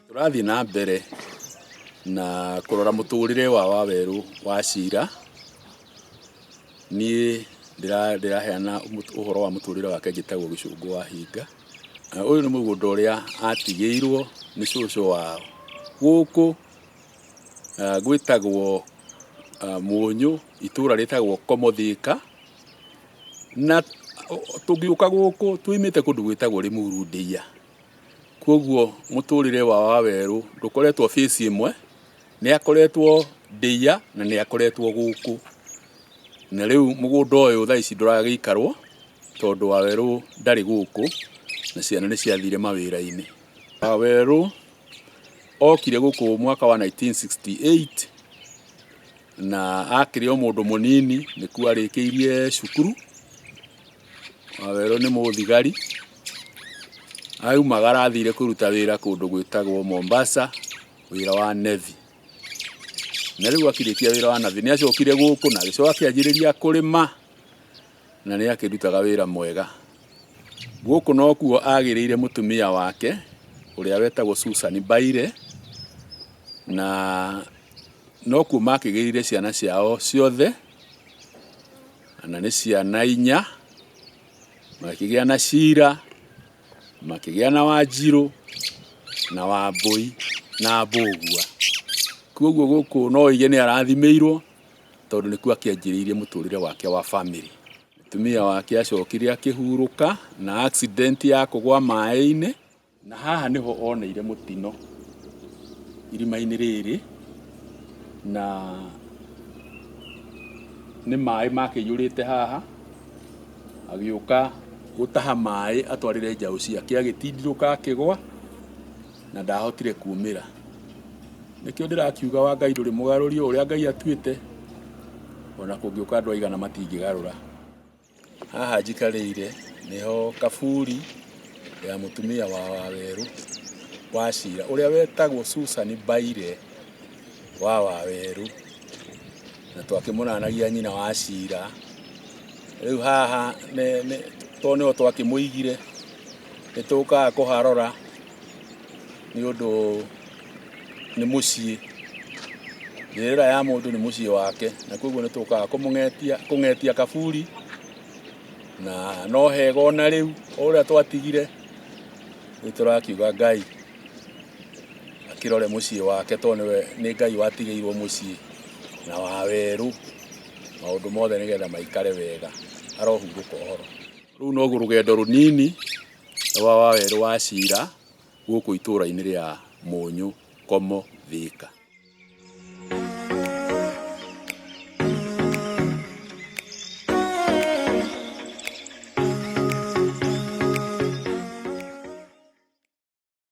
tũrathiĩ na mbere na kũrora mũtũrĩre wa wawerũ wa cira niĩ ndĩra- ndĩraheana mũt- ũhoro wa mũtũrĩre wake njĩtagwo gĩcũngũ wa hinga Na ũyũ nĩ mũgũnda ũrĩa atigĩirwo nĩ cũcũ wao gũkũ Ah, gwĩtagwo ah, mũnyũ itũra rĩtagwo komothĩka na tũngĩũka gũkũ tũimĩte kũndũ gwĩtagwo rĩmuru ndĩia kwoguo mũtũrĩre wa wawerũ ndũkoretwo fĩci ĩmwe nĩ akoretwo ndĩia na nĩ akoretwo gũkũ na rĩu mũgũnda ũyũ thaa ici ndũragĩikarwo tondũ wawerũ ndarĩ gũkũ na ciana nĩ ciathire mawĩra-inĩ wawerũ okire gũkũ mwaka wa 1968 na akĩrĩ o mũndũ mũnini nĩkuo arĩkĩirie cukuru wawerũ nĩ mũthigari aumagara athire kũruta wĩra kũndũ gwĩtagwo Mombasa wĩra wa Navy na rĩu akirĩkia wĩra wa Navy nĩ acokire gũkũ na agĩcoka akĩanjĩrĩria kũrĩma na nĩ akĩrutaga wĩra mwega. Gũkũ nokuo agĩrĩire mũtumia wake ũrĩa wetagwo Susan Baire, na nokuo makĩgĩrĩire ciana ciao ciothe, na nĩ ciana inya, makĩgĩa na Cira, makĩgĩa na Wanjirũ, na Wambũi, na Mbũgua. Koguo gũkũ no uge nĩ arathimĩirwo tondũ nĩkuo akĩanjĩrĩirie mũtũrĩre wake wa family. Mũtumia wake acokire akĩhurũka na accident ya kũgwa maĩ-inĩ, na haha nĩho oneire mũtino irima-inĩ rĩrĩ, na nĩ maĩ makĩiyũrĩte haha, agĩũka gũtaha maĩ atwarĩre njaũ ciake agĩtindirũka akĩgwa. Na ndaahotire kuumĩra. Nĩkĩo ndĩrakiuga wa Ngai ndũrĩ mũgarũri o ũrĩa Ngai atuĩte, o na kũngĩũka andũ aigana matingĩgarũra. Haha njikarĩire nĩho kaburi ya mũtumia wa Wawerũ wa Cira ũrĩa wetagwo Susan Mbaire wa Wawerũ, na twakĩmũranagia nyina wa Cira. Rĩu haha nĩ, nĩ, tondũ nĩho twakĩmũigire. Nĩ tũkaga kũharora nĩ ũndũ nĩ mũciĩ. Njĩrĩra ya mũndũ nĩ mũciĩ wake, na koguo nĩ tũkaga kũmũng'etia, kũng'etia kaburi na no hega ona rĩu o ũrĩa twatigire nĩ tũrakiuga Ngai akĩrore mũciĩ wake tondũ nĩwe nĩ Ngai watigĩirwo mũciĩ na wa werũ maũndũ mothe nĩgetha maikare wega arohurũka ũhoro. Rũu noguo rũgendo rũnini rwa wa werũ wa Ciira gũkũ itũũra-inĩ rĩa Mũnyũ Komo Thĩka.